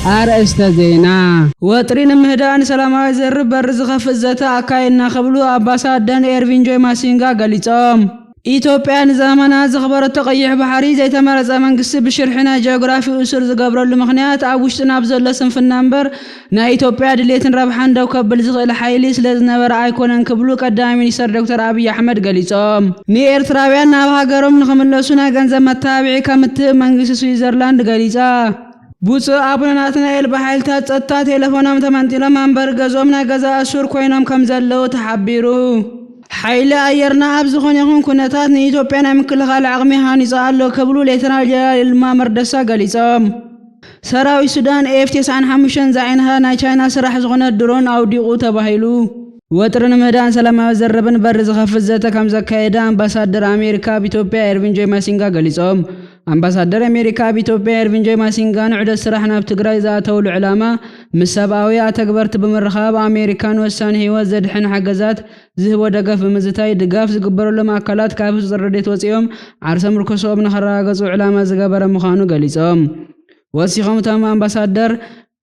ኣርእስተ ዜና። ወጥሪ ንምህዳእ ንሰላማዊ ዝርርብ በሪ ዝኸፍት ዘተ ኣካይድና ክብሉ ኣምባሳደን ኤርቪን ጆይ ማሲንጋ ገሊጾም። ኢትዮጵያ ንዘመናት ዘኽበረቶ ቀይሕ ባሕሪ ዘይተመረጸ መንግስቲ ብሽርሒ ናይ ጂኦግራፊ እሱር ዝገብረሉ ምኽንያት ኣብ ውሽጥና ብዘሎ ስንፍና እምበር ናይ ኢትዮጵያ ድሌትን ረብሓን ደው ከብል ዝኽእል ሓይሊ ስለዝነበረ ኣይኮነን ክብሉ ቀዳማይ ሚኒስተር ዶክተር ኣብይ ኣሕመድ ገሊፆም። ንኤርትራውያን ናብ ሃገሮም ንኽምለሱ ናይ ገንዘብ መተባብዒ ከምትህብ መንግስቲ ስዊዘርላንድ ገሊፃ። ብፁዕ ኣቡነ ናትናኤል ብሓይልታት ፀጥታ ቴለፎኖም ተመንጢሎም መንበሪ ገዝኦም ናይ ገዛ እሱር ኮይኖም ከምዘለዉ ተሓቢሩ። ሓይሊ ኣየርና ኣብ ዝኾነ ይኹን ኩነታት ንኢትዮጵያ ናይ ምክልኻል ዓቕሚ ሃኒፁ ኣሎ ክብሉ ሌተናል ጀነራል ይልማ መርደሳ ገሊፆም። ሰራዊት ሱዳን ኤፍ ተስዓን ሓሙሽተን ዝዓይነታ ናይ ቻይና ስራሕ ዝኾነት ድሮን ኣውዲቑ ተባሂሉ። ወጥሪ ንምህዳን ሰላማዊ ዘረብን በሪ ዝኸፍት ዘተ ከምዘካየደ ኣምባሳደር ኣሜሪካ ኣብ ኢትዮጵያ ኤርቪን ጆይ ማሲንጋ ገሊፆም። ኣምባሳደር ኣሜሪካ ኣብ ኢትዮጵያ ኤርቪን ጆይ ማሲንጋ ንዑደት ስራሕ ናብ ትግራይ ዝኣተውሉ ዕላማ ምስ ሰብኣዊ ኣተግበርቲ ብምርኻብ ኣሜሪካ ንወሳኒ ህይወት ዘድሕን ሓገዛት ዝህቦ ደገፍ ብምዝታይ ድጋፍ ዝግበረሎም ኣካላት ካብ ህፁፅ ረድኤት ወፂኦም ዓርሰ ምርኮሰኦም ንኸረጋገፁ ዕላማ ዝገበረ ምዃኑ ገሊፆም። ወሲኾም እቶም ኣምባሳደር፣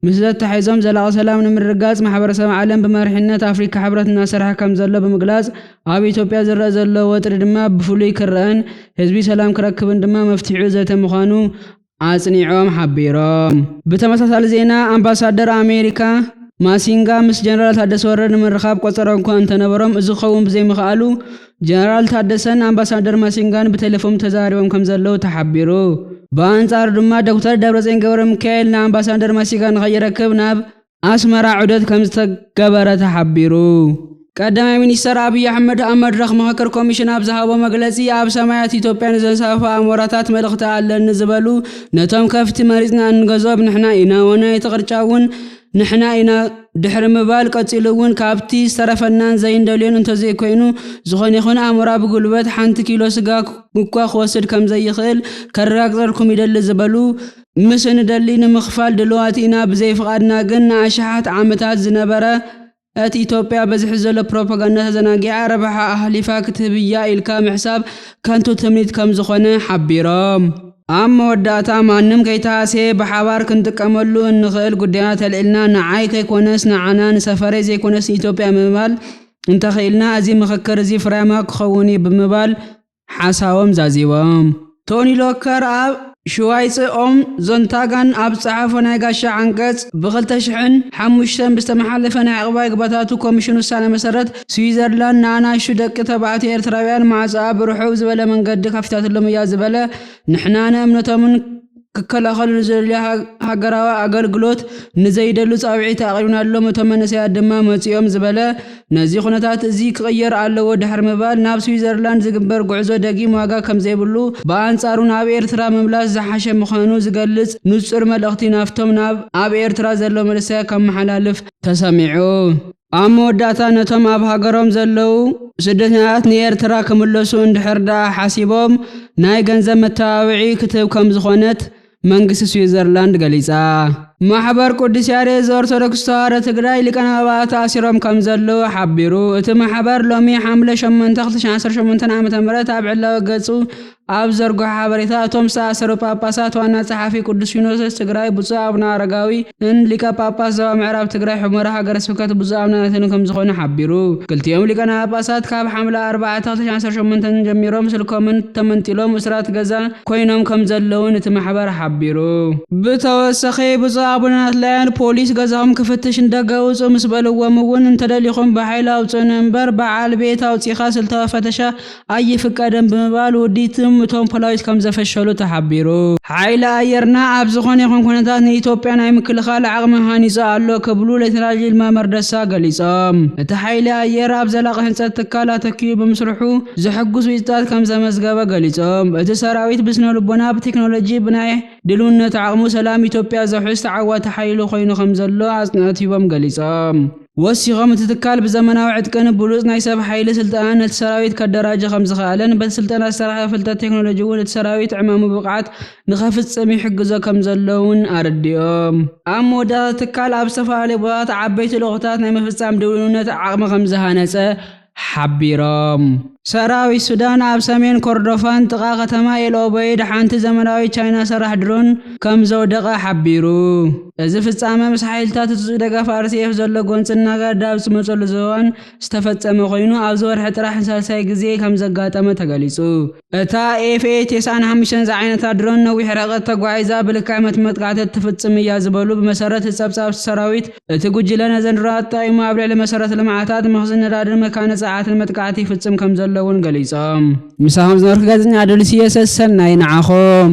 ምስ ዘተሓሒዞም ዘላቒ ሰላም ንምርግጋፅ ማሕበረሰብ ዓለም ብመሪሕነት ኣፍሪካ ሕብረት እናሰርሐ ከምዘሎ ብምግላፅ ኣብ ኢትዮጵያ ዝረኣ ዘሎ ወጥሪ ድማ ብፍሉይ ክረኣን ህዝቢ ሰላም ክረክብን ድማ መፍትሒኡ ዘተ ምዃኑ ኣጽኒዖም ሓቢሮም። ብተመሳሳሊ ዜና ኣምባሳደር ኣሜሪካ ማሲንጋ ምስ ጀነራል ታደሰ ወረደ ንምርኻብ ቆጸሮ'ኳ እንተነበሮም እዚ ክኸውን ብዘይምኽኣሉ ጀነራል ታደሰን ኣምባሳደር ማሲንጋን ብቴለፎም ተዘራሪቦም ከምዘለዉ ተሓቢሩ። ብኣንጻሩ ድማ ዶክተር ደብረጽዮን ገብረሚካኤል ንኣምባሳደር ማሲጋ ንኸይረክብ ናብ ኣስመራ ዑደት ከምዝተገበረ ተሓቢሩ። ቀዳማይ ሚኒስተር ኣብይ ኣሕመድ ኣብ መድረኽ ምኽክር ኮሚሽን ኣብ ዝሃቦ መግለጺ ኣብ ሰማያት ኢትዮጵያ ንዘንሳፍፉ ኣሞራታት መልእኽቲ ኣለኒ ዝበሉ ነቶም ከፍቲ መሪጽና እንገዝኦም ንሕና ኢና ወናይ እቲ ቅርጫ እውን ንሕና ኢና ድሕሪ ምባል ቀጺሉ እውን ካብቲ ዝተረፈናን ዘይንደልዮን እንተዘይኮይኑ ዝኾነ ይኹን ኣሞራ ብጉልበት ሓንቲ ኪሎ ስጋ እኳ ክወስድ ከምዘይኽእል ከረጋግጸልኩም ይደሊ ዝበሉ ምስ እንደሊ ንምኽፋል ድልዋት ኢና ብዘይ ፍቓድና ግን ንኣሽሓት ዓመታት ዝነበረ እቲ ኢትዮጵያ በዝሒ ዘሎ ፕሮፓጋንዳ ተዘናጊዓ ረብሓ ኣህሊፋ ክትህብ እያ ኢልካ ምሕሳብ ከንቱ ትምኒት ከምዝኾነ ሓቢሮም። ኣብ መወዳእታ ማንም ከይተሃስየ ብሓባር ክንጥቀመሉ እንኽእል ጉዳያት ኣልዒልና ንዓይ ከይኮነስ ንዓና፣ ንሰፈረይ ዘይኮነስ ንኢትዮጵያ ምባል እንተኽኢልና እዚ ምኽክር እዚ ፍርያማ ክኸውን እዩ ብምባል ሓሳቦም ዛዚሞም። ቶኒ ሎከር ኣብ ሽዋይጸ ኦም ዞንታጋን ኣብ ዝጸሓፎ ናይ ጋሻ ዓንቀጽ፣ ብ ክልተ ሽሕን ሓሙሽተን ብዝተመሓለፈ ናይ ዕቕባይ ግባታቱ ኮሚሽን ውሳነ መሰረት፣ ስዊዘርላንድ ንኣናእሽቱ ደቂ ተባዕትዮ ኤርትራውያን ማዕጾኣ ብርሑው ዝበለ መንገዲ ከፊታትሎም እያ ዝበለ ንሕና ንእምነቶምን ክከላኸሉ ንዝደልዩ ሃገራዊ ኣገልግሎት ንዘይደሉ ጻውዒት ኣቕሪብናሎም እቶም መንእሰያት ድማ መጺኦም ዝበለ ነዚ ኩነታት እዚ ክቕየር ኣለዎ ድሕሪ ምባል ናብ ስዊዘርላንድ ዝግበር ጉዕዞ ደጊም ዋጋ ከምዘይብሉ ብኣንጻሩ ናብ ኤርትራ ምምላስ ዝሓሸ ምዃኑ ዝገልጽ ንጹር መልእኽቲ ናብቶም ኣብ ኤርትራ ዘለዉ መንእሰያት ከመሓላልፍ ተሰሚዑ። ኣብ መወዳእታ ነቶም ኣብ ሃገሮም ዘለዉ ስደተኛታት ንኤርትራ ክምለሱ እንድሕር ደኣ ሓሲቦም ናይ ገንዘብ መተባብዒ ክትህብ ከም ዝኾነት መንግስቲ ስዊዘርላንድ ገሊጻ። ማሕበር ቅዱስ ያሬድ ዘኦርቶዶክስ ተዋህዶ ትግራይ ሊቃነ ጳጳሳት ተኣሲሮም ከም ዘለዉ ሓቢሩ። እቲ ማሕበር ሎሚ ሓምለ ሸሞንተ ክልተ ሽሕን ዓሰርተ ሸሞንተን ዓመተ ምህረት ኣብ ዕላዊ ገጹ ኣብ ዘርግሖ ሓበሬታ እቶም ዝተኣሰሩ ጳጳሳት ዋና ጸሓፊ ቅዱስ ሲኖዶስ ትግራይ ብፁዕ ኣቡነ ኣረጋዊ ን ሊቀ ጳጳስ ዞባ ምዕራብ ትግራይ ሑመራ ሃገረ ስብከት ብፁዕ ኣቡነ ኣንቶንዮ ከምዝኾኑ ሓቢሩ። ክልቲኦም ሊቃነ ጳጳሳት ካብ ሓምለ ኣርባዕተ ክልተ ሺሕን ዓሰርተ ሸሞንተን ጀሚሮም ስልኮምን ተመንጢሎም እሱራት ገዛ ኮይኖም ከምዘለው ውን እቲ ማሕበር ሓቢሩ። ብተወሰኺ ብፁዕ ኣቡነ ናትላዮን ፖሊስ ገዛኹም ክፍትሽ ንደገ ውጹ ምስ በልዎም ውን እንተደሊኹም ብሓይሊ ኣውጹኡኒ እምበር ብዓል ቤት ኣውጺኻ ስልታዊ ፈተሻ ኣይፍቀድን ብምባል ውዲትም እቶም ፖላዊስ ከምዘፈሸሉ ተሓቢሩ። ሓይሊ ኣየርና ኣብ ዝኾነ ይኹን ኩነታት ንኢትዮጵያ ናይ ምክልኻል ዓቕሚ ሃኒፁ ኣሎ ክብሉ ሌተናል ይልማ መርደሳ ገሊፆም። እቲ ሓይሊ ኣየር ኣብ ዘላቒ ህንፀት ትካል ኣተኪኡ ብምስርሑ ዘሕጉስ ውፅኢታት ከምዘመዝገበ ገሊፆም። እቲ ሰራዊት ብስነልቦና፣ ብቴክኖሎጂ፣ ብናይ ድልውነት ዓቕሙ ሰላም ኢትዮጵያ ዘውሕስ ተዓዋቲ ሓይሊ ኮይኑ ከምዘሎ ኣፅንኦት ሂቦም ገሊፆም። ወሲኾም እቲ ትካል ብዘመናዊ ዕጥቅን ብሉፅ ናይ ሰብ ሓይሊ ስልጠናን ነቲ ሰራዊት ከደራጅ ከምዝኸኣለን በቲ ስልጠና ዝተረኽበ ፍልጠት ቴክኖሎጂ እውን እቲ ሰራዊት ዕማሙ ብብቕዓት ንኸፍፅም ይሕግዞ ከምዘሎ እውን ኣረዲኦም። ኣብ መወዳእታ እቲ ትካል ኣብ ዝተፈላለዩ ቦታታት ዓበይቲ ልኡኽታት ናይ ምፍፃም ድውንነት ዓቕሚ ከምዝሃነፀ ሓቢሮም። ሰራዊት ሱዳን ኣብ ሰሜን ኮርዶፋን ጥቓ ከተማ ኤል ኦበይድ ሓንቲ ዘመናዊት ቻይና ሰራሕ ድሮን ከምዘውደቐ ሓቢሩ። እዚ ፍጻመ ምስ ሓይልታት ህጹጽ ደገፍ RCF ዘሎ ጎንጺ እናገደደ ኣብ ዝመጸሉ እዋን ዝተፈጸመ ኮይኑ፣ ኣብዚ ወርሒ ጥራሕ ንሳልሳይ ግዜ ከምዘጋጠመ ተገሊጹ። እታ ኤፍኤ-ቴስዓን ሓሙሽተን ዝዓይነታ ድሮን ነዊሕ ርሕቀት ተጓዒዛ ብልካይመት መጥቃዕቲ እትፍጽም እያ ዝበሉ ብመሰረት እቲ ጸብጻብ ሰራዊት እቲ ጉጅለ ነዘን ድሮናት ተጠቒሙ ኣብ ልዕሊ መሰረተ ልምዓታት መኽዝን ነዳድን መካነ ጸዓትን መጥቃዕቲ ይፍጽም ከምዘሎ'ውን ገሊጾም። ምሳኹም ዝነበርኩ ጋዜጠኛ ኣዶልስየ ሰሰናዩ ንዓኹም።